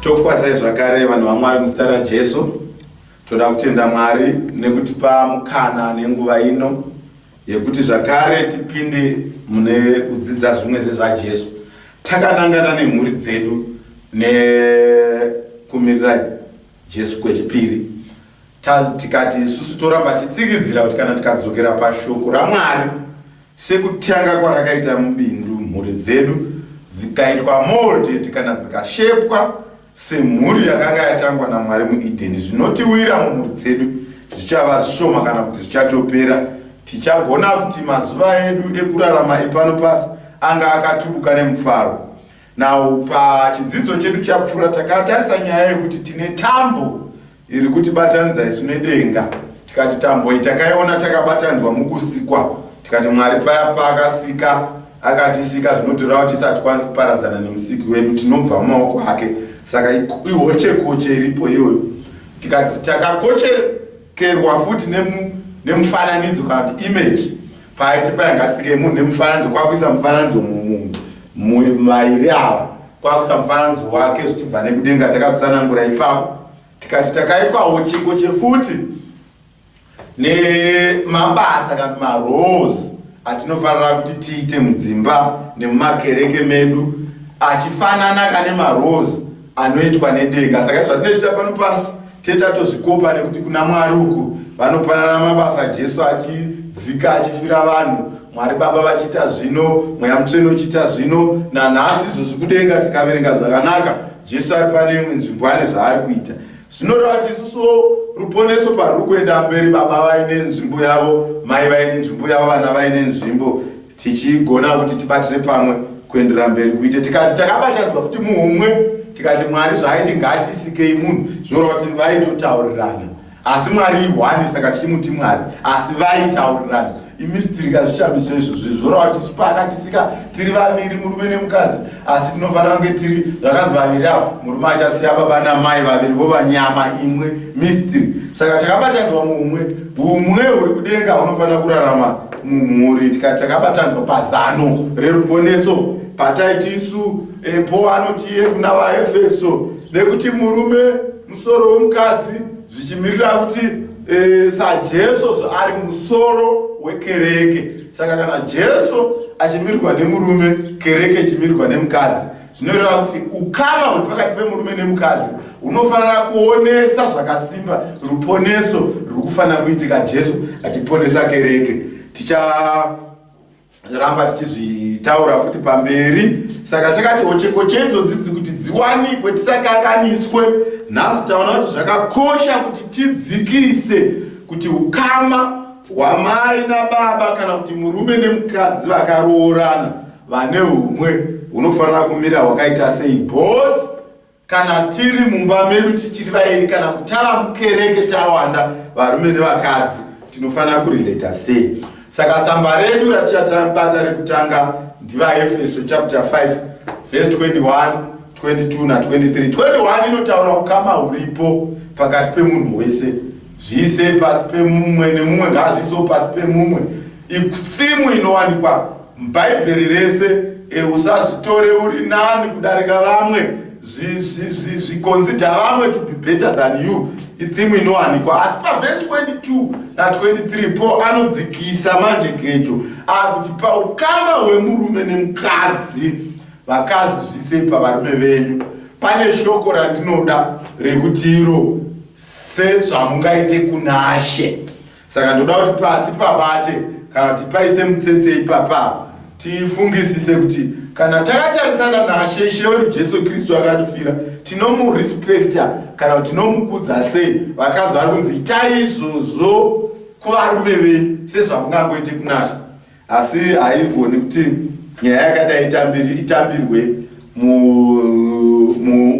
tokwazai zvakare vanhu vamwari muzita rajesu toda kutenda mwari nekutipa mukana nenguva ino yekuti zvakare tipinde mune kudzidza zvimwe zvezvajesu takanangana nemhuri dzedu nekumirira jesu kwechipiri tikati isusu toramba titsikidzira kuti kana tikadzokera pashoko ramwari Sekutanga kwarakaita mubindu, mhuri dzedu dzikaitwa molded kana dzikashepwa semhuri yakanga yatangwa naMwari muEdheni. Zvinotiwira mumhuri dzedu zvichava zvishoma kana kuti zvichatopera. Tichagona kuti mazuva edu ekurarama epano pasi anga akatubuka nemufaro. Now, pachidzidzo chedu chapfuura takatarisa nyaya yekuti tine tambo Iri kutibatanidza isu nedenga, tikati tamboi takaiona takabatanidzwa mukusikwa, tikati Mwari paya paakasika akatisika zvinotoreva kuti isati kwanzi kuparadzana nemusiki wedu tinobva mumaoko ake saka ihochekoche iripo iyoyo tikati takakochekerwa futi nemufananidzo kana kuti image Paiti paya ngatisike munhu nemufananidzo kwakuisa mufananidzo mumunhu mairi ava kwakuisa mufananidzo wake zvichibva nekudenga takazotsanangura ipapo tikati takaitwawo chiko chefuti nemabasa kana marose atinofanira kuti tiite mudzimba nemumakereke medu achifanana kane marose anoitwa nedenga saka zvatinoita pano pasi tete atozvikopa nekuti kuna mwari uku vanopanana mabasa jesu achidzika achifira vanhu mwari baba vachiita zvino mweya mutsvene uchiita zvino nanhasi izvo zvikudenga tikaverenga zvakanaka jesu ari pane imwe nzvimbo ane zvaari kuita zvinoreva kuti isusuwo ruponeso paruri kuenda mberi baba vaine nzvimbo yavo mai vaine nzvimbo yavo vana vaine nzvimbo tichigona kuti tibatire pamwe kuendera mberi kuite tikati takabatanidzwa futi muhumwe tikati mwari zvaaiti ngatisikei munhu zvinoreva kuti vaitotaurirana asi mwari ihwani saka tichimuti mwari asi vaitaurirana imistiri kazvishamiso izvozvi zvoreva kuti zvipakatisika tiri vaviri murume nemukadzi asi tinofanira kunge tiri zvakanzi vaviri avo murume achasiya baba namai vaviri vo vanyama imwe mistiri saka takabatanidzwa muhumwe humwe huri kudenga hunofanira kurarama mumhuri takabatanzwa pazano reruponeso pataiti isu e, paul anotiye kuna vaefeso nekuti murume musoro wemukadzi zvichimirira kuti e, sajesu zvaari musoro wekereke saka kana jesu achimirirwa nemurume kereke ichimirirwa nemukadzi zvinoreva kuti ukama huri pakati pemurume nemukadzi unofanira kuonesa zvakasimba ruponeso ruri kufanira kuitika jesu achiponesa kereke ticharamba tichizvitaura futi pamberi saka chakati hocheko cheizodzidzi kuti dziwanikwe tisakanganiswe nhasi taona kuti zvakakosha kuti tidzikise kuti ukama hwamai nababa kana kuti murume nemukadzi vakaroorana vane umwe hunofanira kumira hwakaita sei both kana tiri mumba medu tichiri vairi kana kutava mukereke tawanda varume nevakadzi tinofanira kurelata sei saka tsamba redu ratichatabata rekutanga ndivaefeso chapter 5 verse 21 22 na 23 21 inotaura ukama huripo pakati pemunhu wese Zviise pasi pemumwe nemumwe ngaazviisewo pasi pemumwe. Ithimu inowanikwa muBhaibheri rese, e, usazvitore uri nani kudarika vamwe, zvikonzidha vamwe to be better than you, ithimu inowanikwa. Asi pavhesi 22 na23 Paul anodzikisa manje gejo akuti paukama hwemurume nemukadzi, vakadzi zviisei pavarume venyu. Pane shoko randinoda rekuti iro sezvamungaite kunashe saka ndoda kuti pati pabate kana kuti paise mutsetse ipapa tifungisise kuti kana takatarisana nashe ishe wedu jesu kristu akatifira tinomurespekta kana kuti tinomukudza sei vakazi vari kunzi itai izvozvo kuvarume venyu sezvamungangoite kunashe Asi haivoni kuti nyaya yakadai itambirwe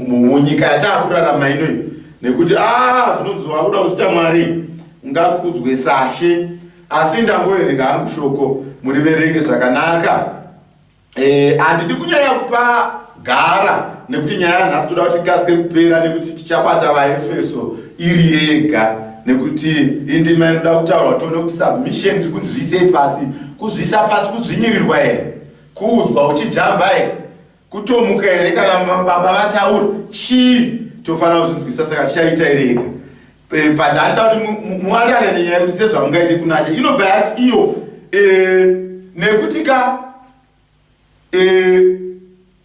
munyika yataakurarama inoi nekuti ah, zvinonzi wakuda kuchita mwari ngakudzwe sashe asi ndangoerenga hangu shoko muriverenge zvakanaka Eh, handidi kunyaya kupa gara nekuti nyaya yanhasi toda kuti ikasike kupera nekuti tichabata vaefeso iri yega nekuti indima inoda kutaurwa tione kuti submission tiri kunzi zviisei pasi kuzviisa pasi kudzvinyirirwa here kuudzwa uchijamba here kutomuka here kana baba vataura chii tofanira kuzvinzwisa saka tichaita iri yega Eh, but anoda kuti muwanane nenyaya yekuti sezvamungaite kunacha inobva yati iyo eh, nekuti ka eh,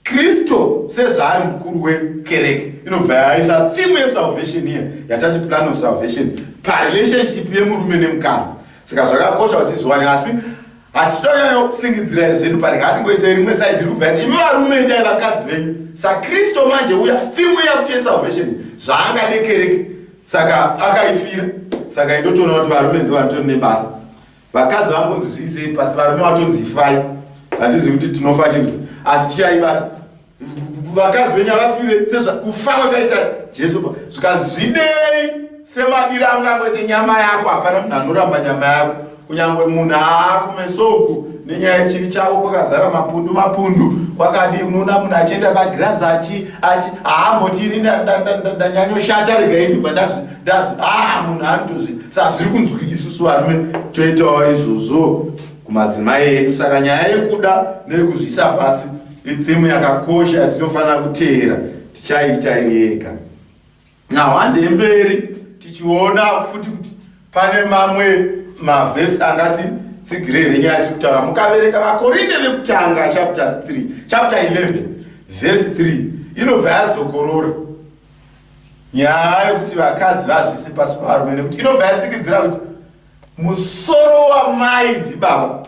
kristu sezvaari mukuru wekereke inobva yaisa thimu yesalvation iye yatati plan of salvation parelationship yemurume nemukadzi saka zvakakosha kuti zviwane asi hatitoyayo kutsingidzira izvinhu pari ngatingoise rimwe side ri kubva yati imi varume idai vakadzi venyu sakristu manje uya thimu yafuti yesalvation zvaangadekereke saka akaifira saka indotoona kuti varume ndo vanotori nebasa vakadzi vangonzi zviisei pasi varume vatonzi ifai handizivi kuti tinofa chii asi chiyaibata vakadzi venyu avafire sezvakufa kwakaita jesu pa zvikanzi zvidei semadiro angu akwete nyama yako hapana munhu anoramba nyama yako kunyange munhu aakumesoku nenyaya yechivi chavo kwakazara mapundu mapundu kwakadii unoona munhu achienda pagirazi achi achi haamboti ini ndanyanyoshata rega ini bva ndazvi ndazvi aa munhu anotozvi sa zviri kunzwi isusu varume toitawo izvozvo kumadzimai edu saka nyaya yekuda neyekuzviisa pasi Itheme yakakosha yatinofanira kuteera tichaita iri yega. Now hande mberi tichiona futi kuti pane mamwe mavhesi angati tsigire here nyaya tiri kutaura mukavereka vakorinde vekutanga chapter 3 chapter 11 vhesi 3 inobva yazokorora nyaya yekuti vakadzi vazvisi pasi pavarume nekuti inobva yasikidzira kuti musoro wamai ndibaba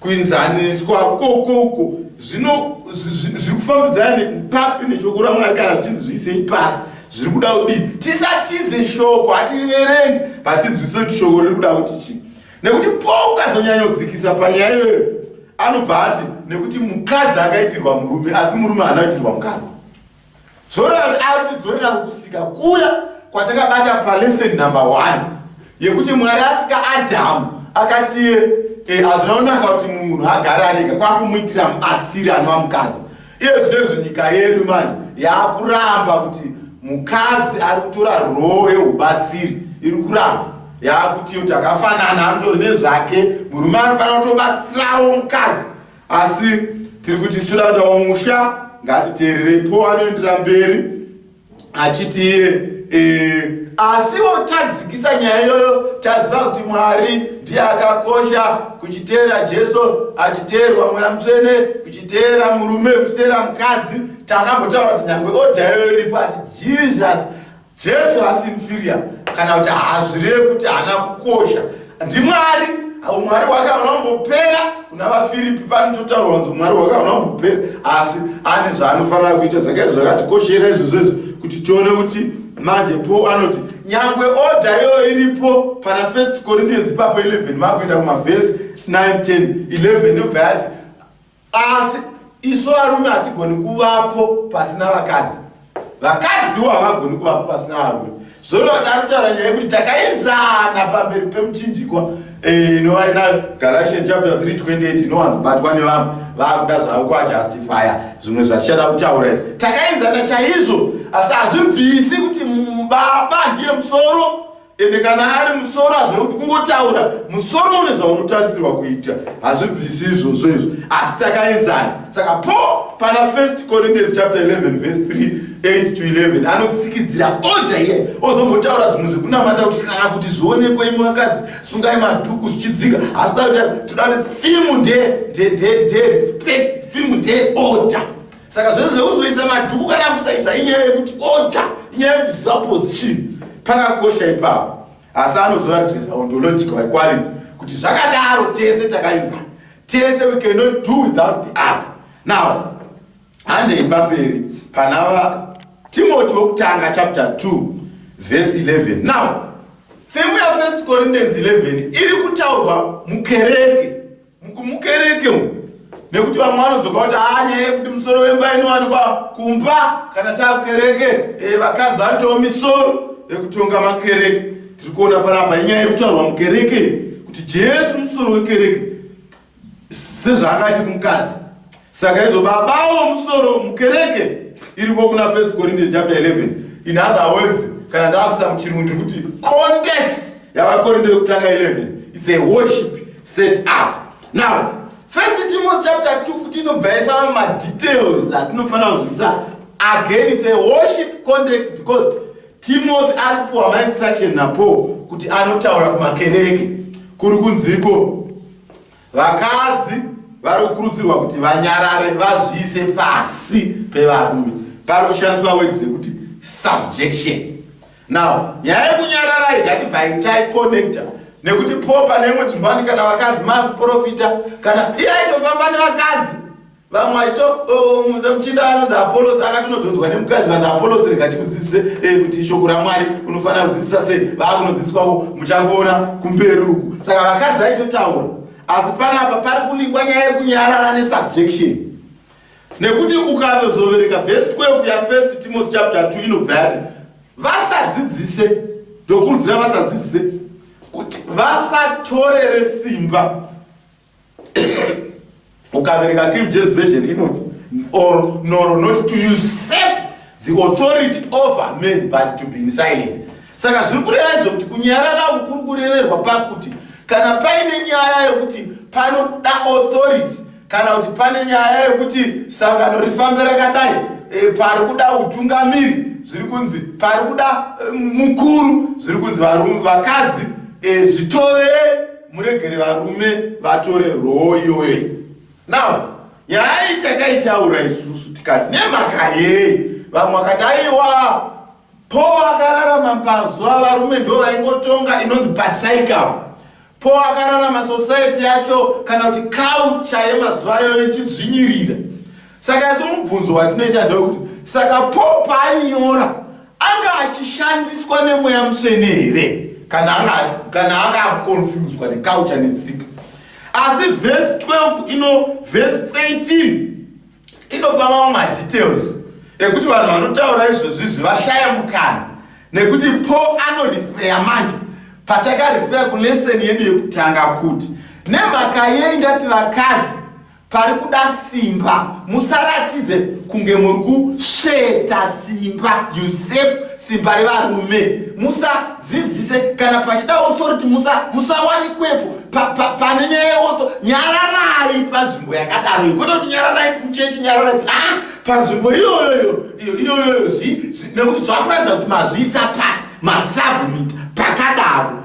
kuinzaniswa kokoko zvino zviri kufambidzana nekupapi neshoko ramwari kana zvichinzi zviisei pasi zviri kuda kudii tisatize shoko hatiriverengi hatinzwise kuti shoko riri kuda kuti chii nekuti po ukazonyanyodzikisa panyaya iyoyo anobva ati nekuti mukadzi akaitirwa murume asi murume haana kuitirwa mukadzi Zorant arikudzorera kukusika kuya kwatakabata palesson number one yekuti mwari asika adamu akatiye e, eh, azvinaonaka kuti munhu agare arega kwakumuitira mubatsiri anova mukadzi iye zvinezvo nyika yedu manje yaakuramba kuti mukadzi ari kutora roo yeubatsiri iri kuramba yaakutiyo takafanana anotori nezvake murume anofanira kutobatsirawo mukadzi asi tiri kuti isu toda kudawo musha ngatiteererei po anoendera mberi achiti iye eh, asiwo tadzikisa nyaya iyoyo taziva kuti mwari ndiye akakosha kuchiteera jesu achiteerwa mweya mutsvene kuchiteera murume kuchiteera mukadzi takambotaura kuti nyange odha iyoyo iripo asi jesus Jesu haasi inferior kana kuti hazvireve kuti haana kukosha. NdiMwari, umwari hwake hauna kumbopera kuna vaFiripi panototaurwa kunzi umwari hwake hauna kumbopera, asi ane zvaanofanira kuita. Saka izvo zvakatikoshera izvozvo izvi kuti tione kuti manje Paul anoti nyangwe order iyoyo iripo pana First Corinthians ipapo 11 vakuenda kumavhesi 9 10 11 ndobva yati Asi isu varume hatigoni kuvapo pasina vakadzi vakadziwo havagoni kuvapo pasina varume zvoreva kuti ari kutaura nyaya yekuti takaenzana pamberi pemuchinjikwa eh, inova e, inayo galatian chapter 3 28 inowanzobatwa nevanhu vaakuda zvavo kuajustifya zvimwe zvatichada kutaura izvi takaenzana chaizvo asi hazvibvisi kuti baba ndiye musoro ende kana ari musoro hazvina kuti kungotaura musoro une zvaunotarisirwa kuita hazvibvisi izvozvo izvo asi takaenzana saka po pana first corinthians chapter 11 verse 3 8 to 11 anotsikidzira oda iye ozombotaura zvimwe zvekunamata kuti kana kuti zvionekwa imwe vakadzi sungai madhuku zvichidzika asi da kuti toda kuti thimu nde nde nde nde respect thimu nde oda saka zvese zvekuzoisa madhuku kana kusaisa inyaya yekuti order inyaya yekuziva position pakakosha ipapo asi anozoadresa ontological equality kuti zvakadaro tese takaisa tese we cannot do without the other now handei pamberi pana va timoti wekutanga chapter 2 verse 11 now themu yafirst corinthians 11 iri kutaurwa mukereke mukumukereke umu nekuti vamwe vanodzoka kuti anye ah, kuti musoro wemba inowanikwa kumba kana takukereke eh, vakadzi vanotawo misoro yekutonga makereke tiri kuona paramba inyaya yekutaurwa mukereke kuti jesu musoro wekereke sezvaakaiti kumukadzi Saka izvo baba avo musoro mukereke iriko kuna First Corinthians chapter 11. In other words, kana ndakusa muchirungu ndiri kuti context yavakorinto yekutanga 11 it's a worship set up. Now, First Timothy chapter 2 futi inobva yaisa mamwe madetails atinofanira kunzwisisa. Again, it's a worship context because Timothy alipuwa mainstruction naPaul kuti anotaura kumakereke kuri kunziko Vakadzi vari kukurudzirwa kuti vanyarare vazviise pasi pevarume pari kushandiswa word rekuti subjection now nyaya yekunyarara haigati vaitai connecta nekuti po pane imwe dzimbo ani kana vakadzi maakuprofita kana iye aitofamba nevakadzi vamwe vachito oh, muchinda anonzi apolosi akati unodhonzwa nemukadzi vanzi apolosi rega tikudzidzise eh, kuti shoko ramwari unofanira kudzidzisa sei vaakunodzidziswavo muchangoona kumberi uku saka vakadzi aitotaura asi panapa pari kuningwa nyaya yekunyarara nesubjection nekuti ukanozovereka vhesi 12 yafirst timothy chapter 2 inobva yati vasadzidzise ndokurudzira vasadzidzise kuti vasatorere simba ukaverenga king james version inoti or nor not to usurp the authority over men but to be silent saka zviri kureva izvo kuti kunyarara uku kuri kureverwa pakuti kana paine nyaya yekuti panoda authority kana kuti pane nyaya yekuti sangano rifambe rakadai e, pari kuda utungamiri zviri kunzi pari kuda e, mukuru zviri kunzi vakadzi e, zvitove muregere varume vatore roo iyoyei now yaaiti yakaitaura isusu tikati nemhaka yei vamwe vakati aiwa po akararama pazuva varume ndo vaingotonga inonzi patricam po akararama society yacho kana kuti culture yemazuva ayo ichidzvinyirira saka asi mubvunzo watinoita ndewekuti saka paul paainyora anga achishandiswa nemweya mutsvene here kana anga akonfuswa nekaucha netsika asi vhesi 12 ino vhesi 13 inopa mamwe madetails ekuti vanhu vanotaura izvozvizvi vashaya mukana nekuti paul anorifeya manje patakarifeya kuleseni yedu yekutanga kuti nemhaka yei ndati vakadzi pari kuda simba musaratidze kunge muri kusveta simba usep simba revarume musadzidzise kana pachida authority musawanikwepo musa pane pa, pa nyaya yeotho nyararai panzvimbo yakadaro ikoita kuti nyararai kuchechi nyararai ah, panzvimbo iyoyoyo iyoyoyo nekuti zvakuratidza kuti mazviisa pasi masabmit pakadaro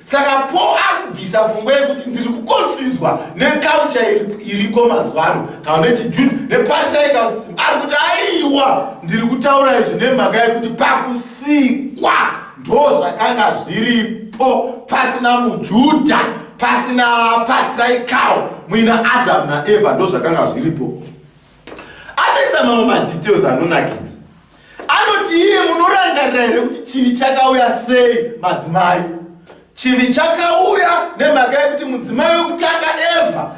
saka po akubvisa pfungwa yekuti ndiri kuconfuswa neculture iriko mazuva ano kana nechijude nepartical system ari kuti aiwa ndiri kutaura izvi nemhaka yekuti pakusikwa ndo zvakanga zviripo pasina mujuda pasina patrical muina adamu naeva ndo zvakanga zviripo anoisa mamwe madetails anonakidza anoti iye munorangarira here kuti chivi chakauya sei madzimai chivi chakauya nemhaka yekuti mudzimai wekutanga eva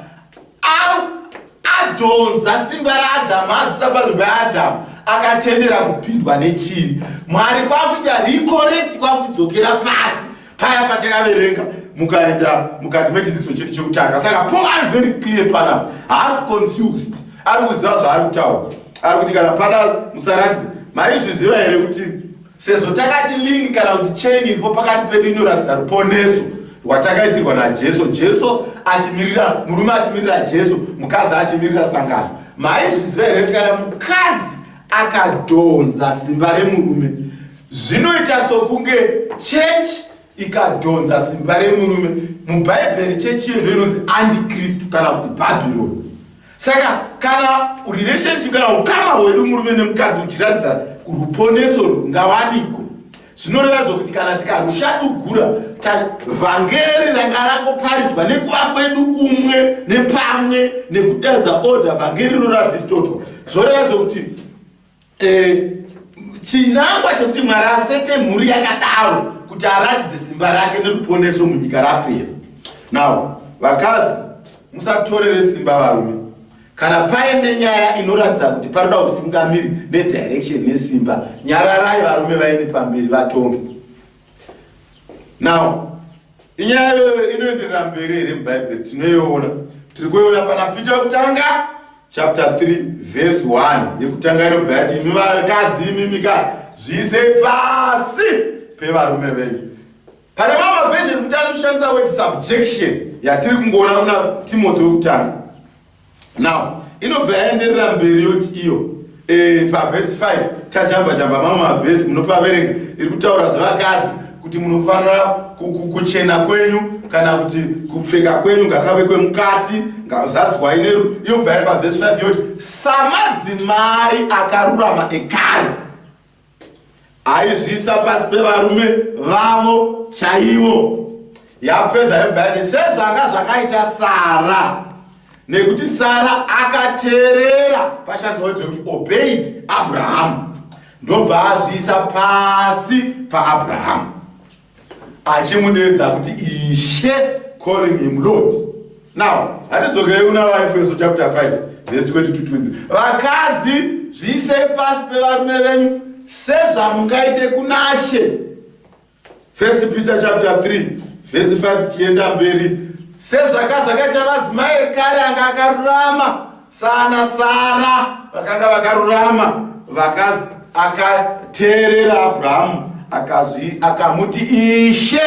adhonza simba raadhamu azisa panhu paadhamu akatendera kupindwa nechivi mwari kwakuita recorecti kwakudzokera pasi paya patakaverenga mukaenda mukati mechidzidzo chedu chekutanga saka paul ari very clear pana haasi confused ari kuziva zvaari kutaura ari kuti kana pada musaratidze maizviziva here kuti sezvo takati link kana kuti chain iripo pakati pedu inoratidza ruponeso rwatakaitirwa najesu jesu achimirira murume achimirira jesu mukadzi achimirira sangano maizviziva here kuti kana mukadzi akadhonza simba remurume Zvinoita sokunge chechi ikadhonza simba remurume. MuBhaibheri chechi iyo ndoinonzi antikristu kana kuti Bhabhironi. Saka kana relationship kana ukama hwedu murume nemukadzi uchiratidza ruponeso rungawaniko zvinoreva zvokuti kana tikarushadugura vhangeri ranga rangoparidzwa nekuva kwedu umwe nepamwe nekudaridza order vhangeri roratistoto zvoreva zvokuti Eh, chinangwa chekuti mwari asete mhuri yakadaro kuti aratidze simba rake neruponeso munyika rapera now vakadzi musatorere simba varume kana paine nyaya inoratidza kuti paroda kuti tungamiri nedirection nesimba nyararai varume vaende pamberi vatonge now inyaya iyoyo inoenderera mberi here mubhaibheri tinoiona tiri kuiona pana pita yokutanga chapter 3 verse 1 yekutanga inobva yati imi vakadzi imimika zviise pasi pevarume venyu pane mamwe mavhesheni kuti ari kushandisa word subjection yatiri kungoona kuna timothy wekutanga now inobva yaenderera mberi yoti iyo eh, pavhesi 5 tajamba jamba mamwe mavhesi munopaverenga iri kutaura zvevakadzi kuti munofanira kuchena kwenyu kana kuti kupfeka kwenyu ngakave kwemukati ngazadzwai neru inobva yari pavhesi 5 yoti samadzimai akarurama ekare aizviisa pasi pevarume vavo chaivo yapedza yobva yati sezvanga zvakaita sara nekuti sara akateerera pashandisa kuti kuti obeid abrahamu ndobva azviisa pasi paabrahamu achimudeedza kuti ishe calling him lord now hatidzokei una vaefeso chapter 5 verse 22 vakadzi zviisei pasi pevarume venyu sezvamungaite kunashe first peter chapter 3 verse 5 tienda mberi sezvaka zvakaita madzimai ekare anga akarurama Sana Sara vakanga vakarurama vakaz akateerera Abrahamu akazvi akamuti ishe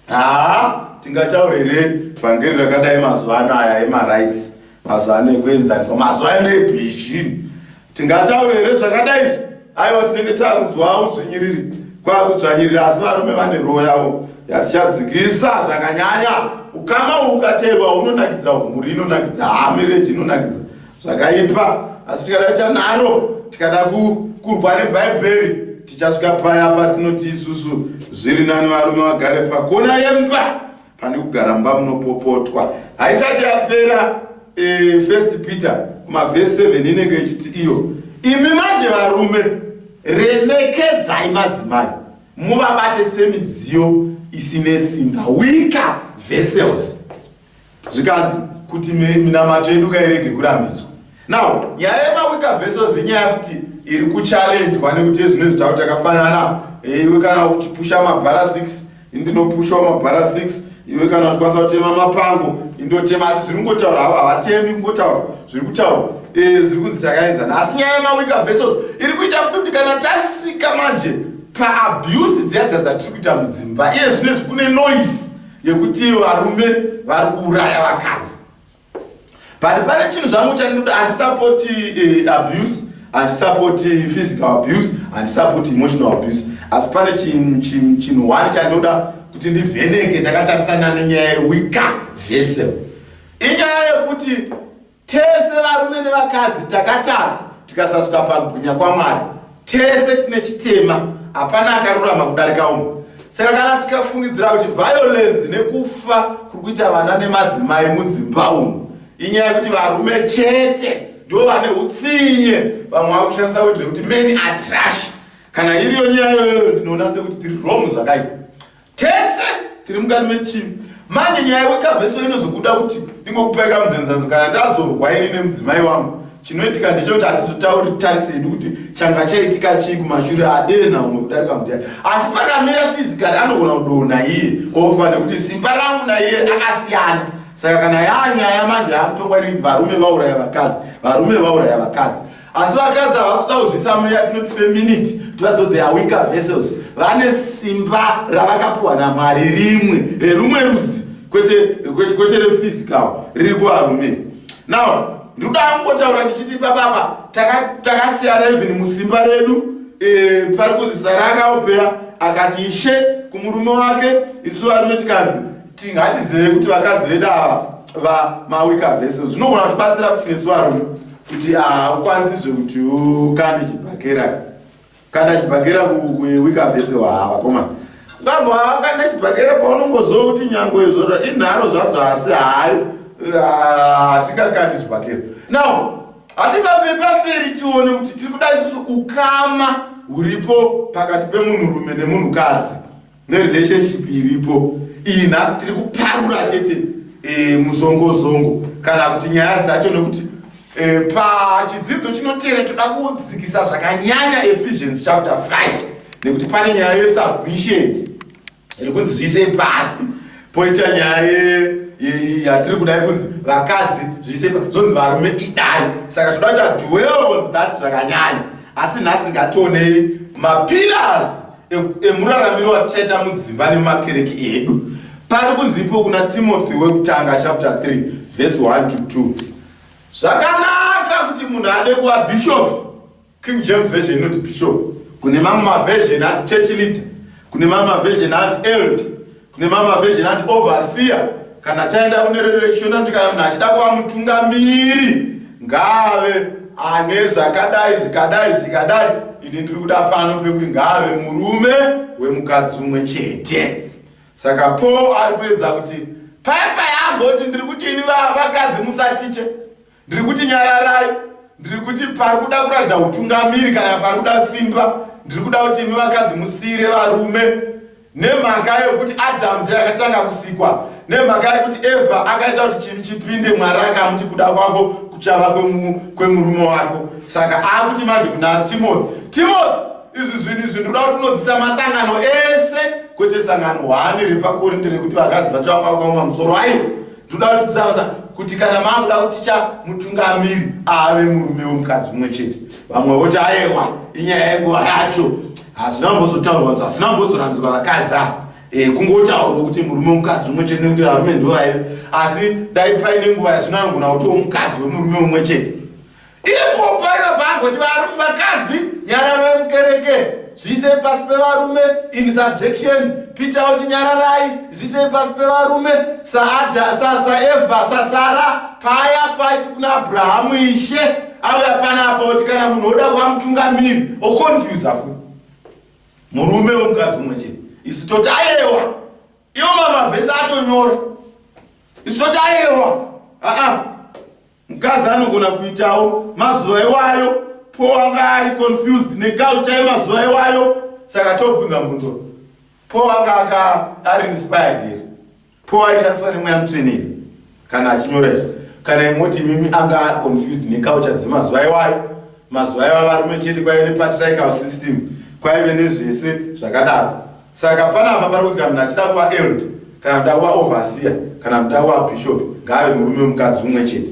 haa tingataurire vhangeri rakadai mazuva ano aya emarights mazuva ano ekuenzaniswa mazuva ano ebhizhini Tingataure here zvakadai izvi? Aiwa, tinenge takunzwawo udzvinyiriri kwakudzvanyirira, asi varume vane roho yavo yatichadzikisa zvakanyanya. Ukama uhu ukateerwa hunonakidza, mhuri inonakidza, haa mereji inonakidza zvakaipa, asi tikada kuita naro, tikada kurwa neBhaibheri, tichasvika paya patinoti isusu zviri nani varume vagare pakona yemba. pane kugara mumba munopopotwa haisati yapera e, first peter kumavhesi 7 inenge ichiti iyo imi manje varume remekedzai madzimai muvabate semidziyo isine simba wika vessels zvikanzi kuti minamato yedu kairege kurambidzwa Now, nyaya yemaweaker vessels inyaya futi iri kuchallenjwa nekuti ezvino izvi tava takafanana eh, iwe kana uchipusha mabhara 6 indinopushawo mabhara 6 iwe kana uchikwanisa kutema mapango indotema asi zviri kungotaura havo havatemi kungotaura zviri kutaura eh, zviri kunzi takaenzana asi nyaya yemaweaker vessels iri kuita futi kuti kana tasvika manje paabuse dziya dza dzatiri kuita mudzimba iye zvino izvi kune noise yekuti varume vari kuuraya vakadzi but pane chinhu zvangu chandiri kuti handisapoti uh, eh, abuse handisapoti physical abuse handisapoti emotional abuse asi pane chinhu one chandoda kuti ndivheneke ndakatarisana nenyaya yewika vesel inyaya yekuti tese varume nevakadzi takatadza tikasasuka pagwinya kwamwari Tese tine chitema, hapana akarurama kudarika umwe. Saka kana tikafungidzira kuti violence nekufa kuri kuita vana nemadzimai mudzimba umu inyaya yekuti varume chete ndivo vane utsinye, vamwe vava kushandisa wodhi rekuti many are trash. Kana iriyo nyaya iyoyo ndinoona sekuti tiri wrong zvakaipa. Tese tiri mukati mechimi. Manje nyaya wekaveso inozokuda kuti ndingokupai kamudzenzanzo kana ndazorwa ini nemudzimai wangu. Chinoitika ndechekuti hatizotauri tarise yedu kuti changa chaitika chii kumashure adee naumwe kudarika mudhani. Asi pakamira fizikali anogona kudonha iye ofa nekuti simba rangu naiye akasiyana. Saka kana yaa nyaya manje yaakutongwa inenzi varume vauraya vakadzi, varume vauraya vakadzi. asi vakadzi havasi kuda kuzivisa mweya yatinoti feminity kuti vaziva they are weaker vessels vane simba ravakapiwa namwari rimwe rerumwe rudzi kwete rephysical riri kuvarume now ndiri kuda kungotaura ndichiti bababa takasiyana even musimba redu eh, pari kunzi sara akaopera akati ishe kumurume wake isu varume tikanzi tingatizive kuti vakadzi vedu ava vamawika vese zvinogona kutibatsira kuti nesu varume kuti haukwanisizve kuti ukande chibhakera kanda chibhakera kuwika vese waa vakoma ngabva kanda chibhakera paunongozoa kuti nyangwe izvo inharo zvadzo asi hayi hatingakandi chibhakera now hativambe pamberi tione kuti tiri kuda isusu ukama huripo pakati pemunhurume nemunhukadzi nerelationship iripo iyi nhasi tiri kuparura chete e, muzongozongo kana kuti nyaya dzacho nekuti e, pachidzidzo chinoteera toda kudzikisa zvakanyanya ephesians chapter 5 nekuti pane nyaya yesubmission iri kunzi zviise pasi poita nyaya yatiri kudai kunzi vakadzi zviise zvonzi varume idai saka toda kuti adwell on that zvakanyanya asi nhasi ngationei mapillars emuraramiro atichaita mudzimba nemakereki edu pari kunzipo kuna timothy wekutanga chapter 3 vhesi 1 to 2 zvakanaka kuti munhu ade kuva bhishopi king james version inoti bhishopi kune mamwe mavhezheni ati church leader kune mamwe mavhezheni ati eld Kune mamwe mavhejini anoti ovhasiya. Kana taenda kune redu rechishona kuti kana munhu achida kuva mutungamiri ngaave ane zvakadai zvikadai zvikadai. Ini ndiri kuda pano pekuti ngaave murume wemukadzi umwe chete. Saka Paul ari kuedza kuti paya paya amboti ndiri kuti ini vakadzi musatiche Ndiri kuti nyararai, ndiri kuti pari kuda kuratidza hutungamiri kana pari kuda simba. Ndiri kuda kuti imi vakadzi musiire varume nemhaka yokuti Adhamu ndiye akatanga kusikwa, nemhaka yokuti Evha akaita kuti chivi chipinde Mwari akamuti kuda kwako kuchava kwemurume wako. Saka akuti manje kuna Timothy, Timothy, izvi zvinhu izvi ndinoda kuti unodzisa masangano ese kwete sangano hwani repakorinde rekuti vakadzi vacho vakakwauma musoro aiwo Ndoda kudzidza kuti kana makuda kuticha mutungamiri ave murume wemukadzi umwe chete, vamwe voti ayewa inyaya yenguva yacho, hazvina kumbozotaurwa nzva, hazvina kumbozorambidzwa vakadzi ava eh, kungotaurwa kuti murume wemukadzi umwe chete nekuti varume ndovaive, asi dai paine nguva yazvino anogona kutiwo mukadzi wemurume umwe chete. Ipo paiva pangoti varume vakadzi nyararai mukereke zviisei pasi pevarume in subjection peter oti nyararai zviisei pasi pevarume saada sasaevha sasara paya paiti kuna abrahamu ishe auya panapa oti kana munhu oda kuva mutungamiri oconfuse afu murume wemukadzi umwe chete isu toti ayewa iwo mamavhesi atonyora isu toti ayewa aa uh -uh. Mukadzi anogona kuitawo mazuva iwayo Paul anga ari confused neculture yemazuva iwayo saka tobvunza mubvunzo Paul anga aka ari inspired here Paul aishandiswa nemweya mutsvene here kana achinyora izvi kana imoti imimi anga confused neculture dzemazuva iwayo mazuva iwayo varume chete kwaive nepatrical system kwaive nezvese zvakadaro Saka panapa pari kuti kana munhu achida kuva eld kana kuda kuva overseer kana kuda kuva bishop ngaave murume wemukadzi umwe chete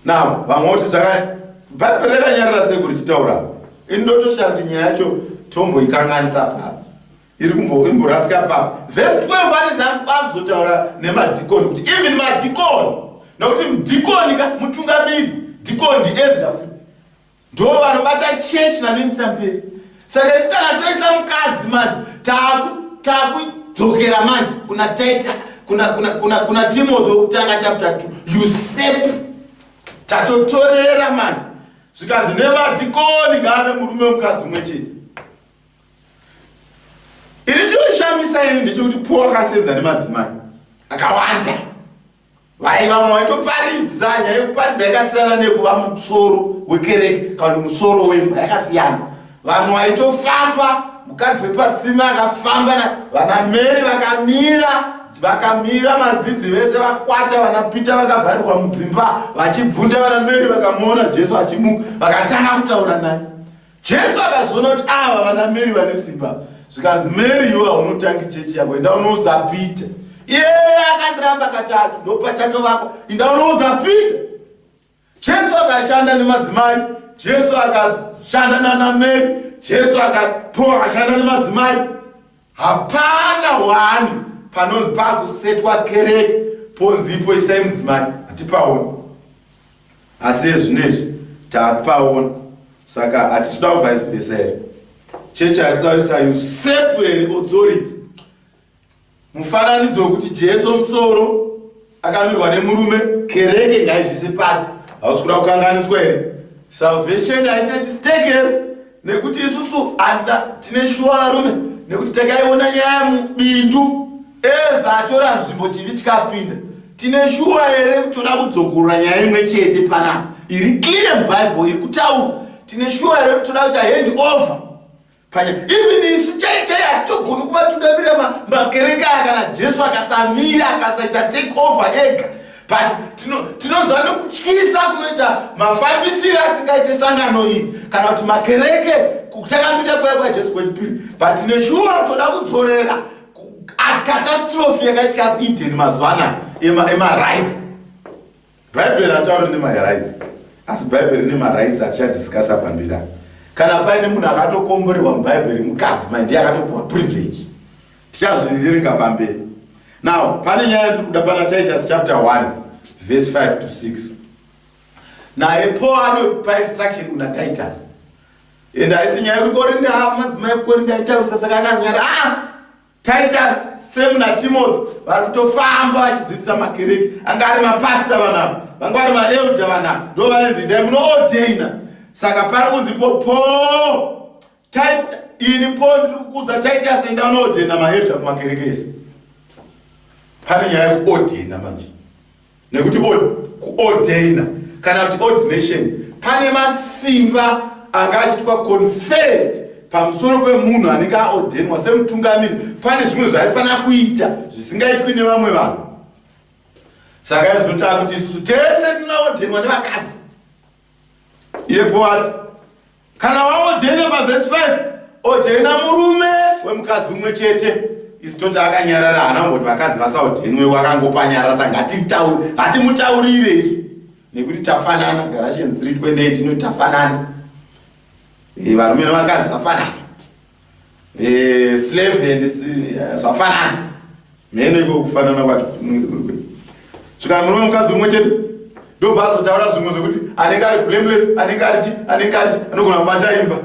now vamwe voti zvaka bhaibheri rakanyarara sei kuti chitaura ini ndotoshaya kuti nyaya yacho tomboikanganisa paa iri kumborasika paa vhesi 12 ari zangu bakuzotaura nemadhikoni kuti even madhikoni nokuti mdhikoni ka mutungamiri dhikoni ndielda futi Ndoo vanobata church vanoindisa mberi. Saka isu kana toisa mukadzi manje taku taku dzokera manje kuna Taita kuna kuna kuna kuna Timothy wekutanga chapter 2. You sep tatotorera manje. Zvikanzi nemadikoni ngave murume wemukadzi umwe chete. Iri choshamisa ini ndechekuti Paul akasenza nemadzimai akawanda. Vai vamwe vaitoparidza nyaya yekuparidza yakasiyana nekuva musoro wekereke kana kuti musoro wemba yakasiyana. Vamwe vaitofamba mukadzi wepatsime akafamba na vana Mary vakamira vakamira madzidzi vese vakwata vana Peter vakavharirwa mudzimba vachibvunda vana Mary vakamuona Jesu achimuka vakatanga kutaura naye. Jesu akazoona kuti ava vana Mary vane simba zvikanzi Mary iwe haunotangi chechi yako enda unoudza Peter iyeye akandiramba katatu ndopachato vako enda unoudza Peter Jesu akashanda nemadzimai Jesu akashanda nana Mary Jesu akapo akashanda nemadzimai Hapana wani panonzi pakusetwa kereke ponzi ipo isai mudzimai hatipaoni asi ezvinezvi tapaona saka hatisuda kuvice vesa here chechi haisida kuisa usurp here authority mufananidzo wekuti jesu musoro akamirwa nemurume kereke ngaizvise pasi hausi kuda kukanganiswa here salvation haisati stake here nekuti isusu anda tine shuwa varume nekuti takaiona nyaya mubindu eva atora nzvimbo chivi chikapinda tine shuwa here kutoda kudzokorora nyaya imwe chete panapa iri clear mubible iri kutaura tine shuwa here kutoda kuti ahendi over panya even isu chai chai hatitogoni kuvatungamirira makereke aya kana jesu akasamira akasaita take over ega but tinonzwa nokutyisa kunoita mafambisiro atingaite sangano iyi kana kuti makereke takamira kuya kwajesu kwechipiri but neshuwa toda kudzorera catastrophe yakaitika kueden mazuva anaya emarice Bhaibheri hatauri nemarights asi bhaibheri rine marights atichadiscasa pambira kana paine munhu akatokomborerwa mubhaibheri mukadzi mai ndiye akatopiwa privilege tichazviverenga pamberi now pane nyaya yatiri kuda pana titus chapter 1 verse 5 to 6 naye paul anopa instruction kuna titus and haisi nyaya yekuti korinda madzimai kukorinda aitaurisa saka akanyara ah! Titus, Sam naTimothy vari kutofamba vachidzidzisa makereke. Anga ari mapasita vanhu ava, vanga vari maelda vanhu ava, ndo vainzi endai munoodheina. Saka pari kunzi po po Titus, ini po ndiri kukudza Titus enda unoodheina maelda kumakereke ese. Pane nyaya yekuodheina manje. nekuti kuordaina kana kuti ordination pane masimba anga achiitwa conferred pamusoro pemunhu anenge aordainwa semutungamiri pane zvimwe zvaifanira kuita zvisingaitwi nevamwe vanhu saka izvinotaa kuti isusu tese tinoordainwa nevakadzi iye poati kana waojaina pavhesi 5 ojaina murume wemukadzi umwe chete isi toti akanyarara hana ngoti vakadzi vasaojainwe wakangopanyarara sa ngatitaure hatimutaurire isu nekuti tafanana garatians 328 inoti tafanana eh, varume nevakadzi vafanana Eh, slave and eh, zvafanana mheno iko kufanana kwacho kuti munenge kuri kwei svika murume mukadzi umwe chete ndobva azotaura zvimwe zvekuti anenge ari blameless anenge arichi anenge arichi anogona kubata imba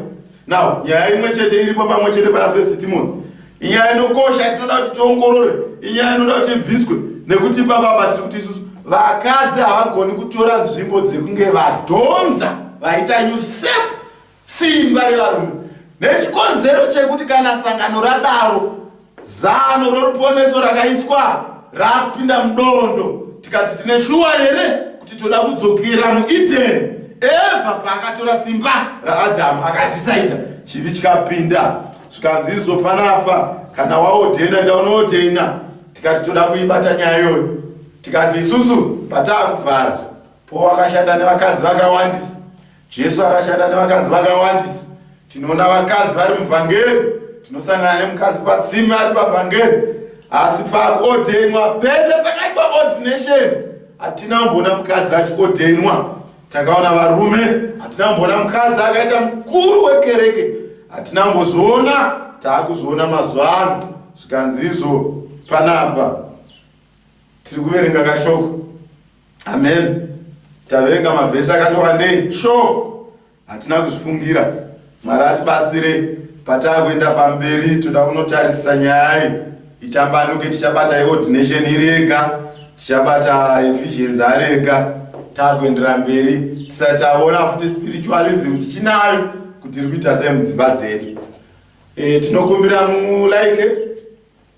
now nyaya imwe chete iripo pamwe chete pana first timothy inyaya inokosha tinoda kuti tiongorore inyaya inoda kuti ibviswe nekuti ipapapa tiri kuti isusu vakadzi havagoni kutora nzvimbo dzekunge vadhonza vaita usep Simba revarume nechikonzero chekuti kana sangano radaro zano roruponeso rakaiswa rapinda mudondo tikati tine shuwa here kuti toda kudzokera muedeni eva paakatora simba raadhamu akadhisaidha chivi chikapinda zvikanzi izvo panapa kana waodhena ndaunoodhena tikati toda kuibata nyaya iyoyo tikati isusu pataa kuvhara powakashanda nevakadzi vakawandisa Jesu akashanda nevakadzi vakawandisa. Tinoona vakadzi vari muvhangeri, tinosangana nemukadzi patsime ari pavhangeri, asi pakuodhenwa pese pakaitwa ordination hatina kumboona mukadzi achiodhenwa. Takaona varume, hatina kumboona mukadzi akaita mukuru wekereke, hatina kumbozoona taakuzoona mazuva ano zvikanzi izvo panapa tiri kuverenga kashoko Amen. Taverenga mavhesi akati wandei sho hatina kuzvifungira. Mwari atibatsire patakuenda pamberi, toda kunotarisisa nyaya iyi itambanuke. Tichabata yeordination iri yega, tichabata Ephesians ari ega, takuendera mberi tisati taona futi spiritualism tichinayo kuti iri kuita sei mudzimba dzedu. E, tinokumbira mulike like,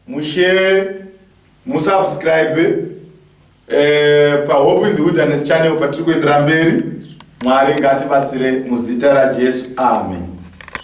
Mushare, musubscribe eh, paHope in the Wilderness channel patiri kuendera mberi. Mwari ngatibatsire muzita raJesu. Amen.